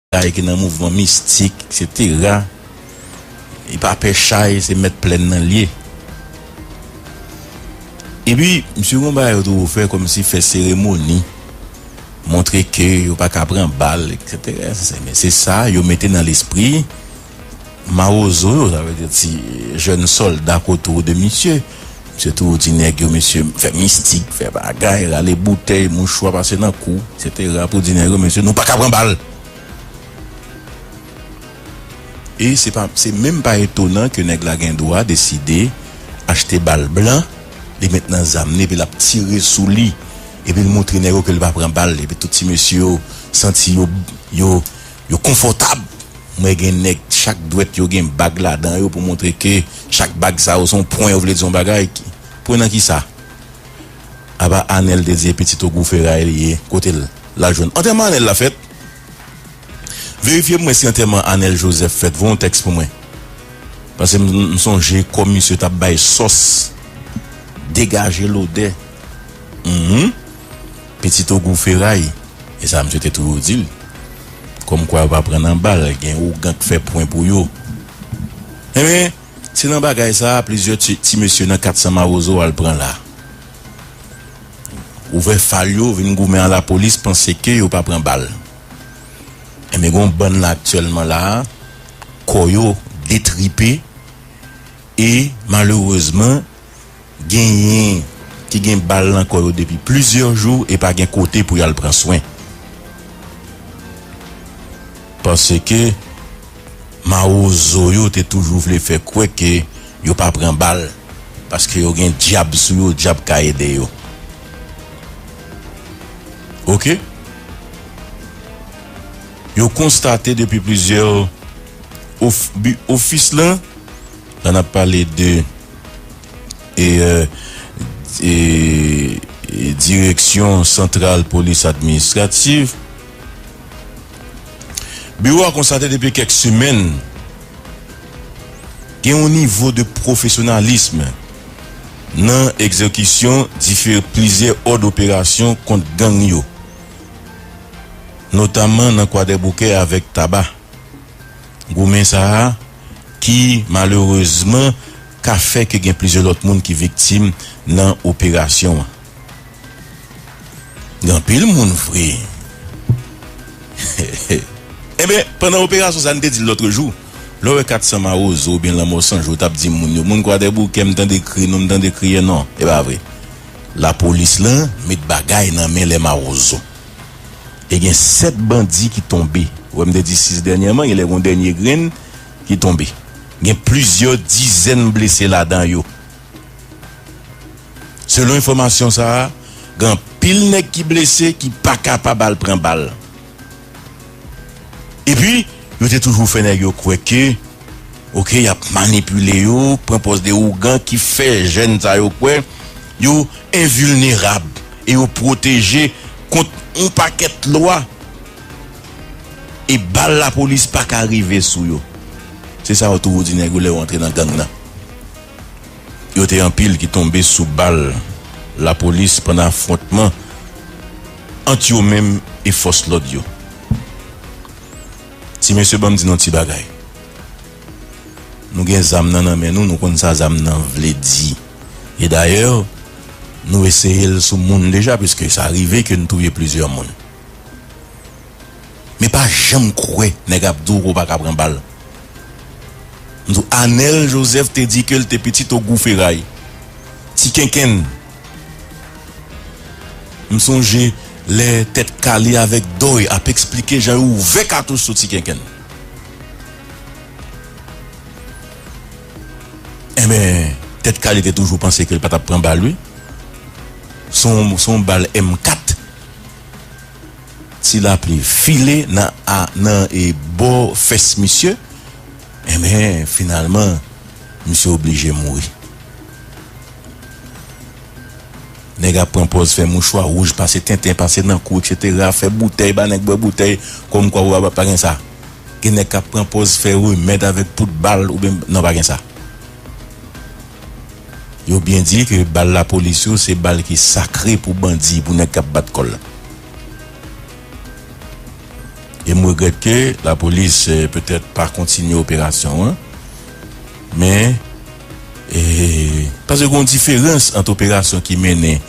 Chay ki nan mouvman mistik, eksetera, li pa pè chay, se mèt plèn nan li ye. Epi, misye gen yon bagay yo toujou fè kòmsi fè seremoni. montre ke yo pa ka pran bal eksetera se men se sa yo mete nan lespri mawozo yo sa vle di ti jèn sòlda k otou de misye misye toujou di nèg yo mesye fè mistik fè bagay rale boutèy mouchwa pase nan kou eksetera pou di nèg yo mesye nou pa ka pran bal e se pa se menm pa etonan ke nèg la gen dwa deside achte bal blan. li met nan zam li epi lap tire sou li epi l montre nèg yo ke li pa pran bal epi tout ti mesye yo santi yo yo yo konfòtab m wè gen nèg chak dwèt yo gen bag ladan yo pou montre ke chak bag sa yo se yon pwen yo vle di yon bagay ki pwen nan kisa apa Anèl te di e pitit ogou feray li ye kote l lal jwenn antèman Anèl la fèt. Verifye pou mwen si antèman Anel Joseph fèt Voye yon tèks pou mwen Pase m sonje kòm misye tap bay sòs Degaje lodè Humm Pitit ogou feray E sa misye te toujou di l Kòm kwa yo pa pran nan bal Gen ougan k fè pwen pou yo Enben se nan bagay sa a plizyè ti mesye nan 400 mawozo al pran la Ouvè fal yo vin goumen a lapolis panse ke yo pa pran bal. Enben gon bann la aktyèlman la a kò yo detripe e malerezman genyen ki gen bal nan kò yo depi plizyè jou e pa gen kote pou y al pran swen paske mawozo yo te toujou vle fè kwè ke yo pa pran bal paske yo gen dyab sou yo dyab ka ede yo. Ok. Yo konstate depi plizyè of bi ofis la, la n ap pale de e e direksyon santral polis administrativ. Biwo a konstate depi kèk semèn gen yon nivo de pwofesyonalism. Nan egzekisyon dife plizyè òd operasyon kont gang yo, notamman nan Kwadèboukè avèk Taba, goumen sa a ki malerezman ka fè ke gen plizyè lòt moun ki viktim nan operasyon an. Gen anpil moun vre. Enben, pandan operasyon sa, n te di l lòtre jou, lè w wè 400 mawozo oubyen lanmò san jou, w t ap di moun yo, moun Kwadèboukè, m tande kri nou, m tande kriye nou. E pa vre. Lapolis lan met bagay nan men lè mawozo. E gen 7 bandi ki tonbe. Ou wè m te di 6 dènyèman, gen lè gen yon dènye grenn ki tonbe. Gen plizyè dizèn blese ladan yo. Selon enfòmasyon sa a, gen anpil nèg ki blese ki pa kapab al pran bal. Epi, yo te toujou fè nèg yo kwè ke ok y ap manipile yo, pran pòz de ougan ki fè jèn sa yo kwè yo envilnerab e yo pwoteje kont yon pakèt lwa e bal lapolis pa ka rive sou yo. Se sa yo toujou di nèg yo lè yo antre nan gang nan. Yo te anpil ki tonbe sou bal lapolis pandan afwontman ant yo menm e fòs lòd yo. Ti mesye banm di nou ti bagay. Nou gen zam nan nan men nou, nou konn sa zam nan vle di. E dayè nou eseye l sou moun deja piske sa rive ke n touye plizyè moun. Men pa janm kwè nèg ap di w ke w pa ka pran bal. M di w Anèl Jozèf te di ke l te pitit Ogou Feray. Ti kenkenn. M sonje lè Tèt Kale avèk Dòy ap eksplike jan yo ouvè katouch sou Ti kenkenn. Enben, Tèt Kale te toujou panse ke l pa t ap pran bal wi. Se yon bal M4. Ti lapli file nan a nan e bò fès misye enben finalman misye oblije mouri. Nèg ap pran pòz fè mouchwa wouj pase tenten pase nan kou eksetera fè boutèy ba nèg bwè boutèy kòm kwa ou pa gen sa. Gen nèg kap pran pòz fè remèd avèk poud bal oubyen non pa gen sa. Yo byen di ke bal lapolis yo se bal ki sakre pou bandi, pou nèg k ap bat kò l. E m regrèt ke lapolis petèt pa kontinye operasyon an. Men, paske gen yon diferans ant operasyon ki mennen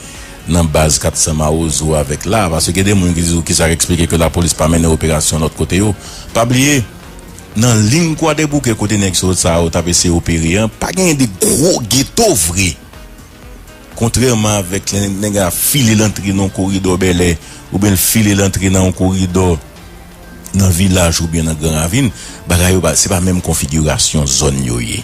nan baz 400 mawozo avèk la a. Paske gen de moun ki di ou kisa k esplike ke lapolis pa mennen operasyon lòt kote yo. Pa bliye, Nan ling Kwadèboukè kote nèg sòt sa yo t ap eseye opere an, pa genyen de gwo geto vre. Kontrèman avèk lè nèg la file l antre nan yon koridò Bèlè oubyen l file l antre nan yon koridò nan Vilaj oubyen nan Gran Ravin, bagay yo pa se pa menm konfigirasyon zòn yo ye.